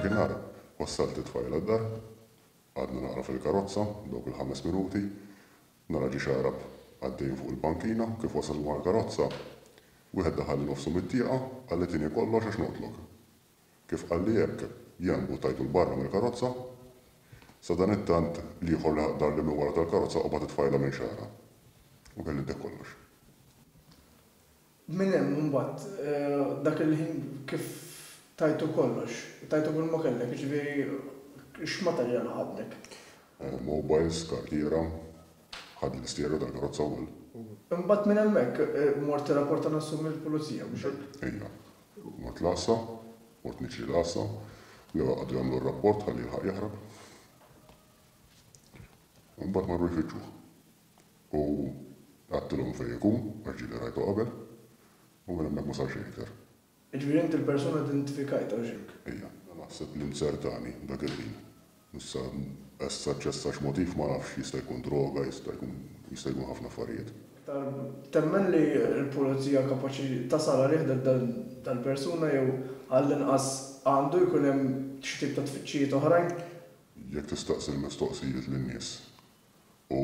Dakinhar wassalt lit-tfajla d-dar. Qgħadna naqra fil-karozza dawk il-ħames minuti. Nara ġiex Għarab għaddejjin fuq il-bankina. Kif wasalna mal-karozza, wieħed daħalli nofsu mit-tieqa, qalli tieni kollox għax noqtlok. Kif qalli hekk, jien mbuttajtu 'l barra mill-karozza. Sadanittant l-ieħor leħaq dar li minn wara tal-karozza qabad it-tfajla minn xagħarha. U kelli ddeħk kollox. Minn hemm imbagħad dak il-ħin kif tajtu kollox, tajtu kull ma kellek, jiġifieri x'materjal ħadlek? Mobiles, kartiera, ħadt l-istierja tal-karozza wkoll. Imbagħad minn hemmhekk mort tirrapporta nofsu mill-Pulizija, mhux hekk? Ejja. Mort l-Għassa, mort niġri l-Għassa, l-ewwel qagħdu jagħmlu r-rapport ħalli jilħaq jaħrab, imbagħad marru jfittxuh. U qattulhom fejn ikun, għax ġieli rajtu qabel, u minn hemmhekk ma sar xejn iktar. Jiġifieri int il-persuna identifikajtha, hux hekk? Ejja. Naħseb li nzertani dak il-ħin. Issa, essa ċessa x'motiv ma nafx, jista' jkun droga, jista' jkun, jista' jkun ħafna affarijiet. Iktar, temmen li l-pulizija kapaċi tasal għalih dal-persuna jew għall-inqas għandu jkun hemm xi tip ta' tfittxijiet oħrajn? Jekk tistaqsi l-mistoqsijiet lin-nies u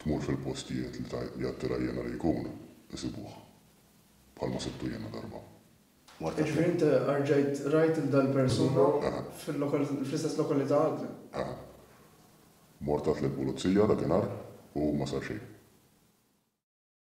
tmur fil-postijiet li tgħid li attira jiena li jkun, isibuh. Bħalma sibtu jiena darba. Mort għal fejn? Jiġifieri int rġajt rajt lil dal-persuna fl-istess lokalità għadni? Eħe. Mort għidt lill-pulizija dakinhar u ma sar xejn.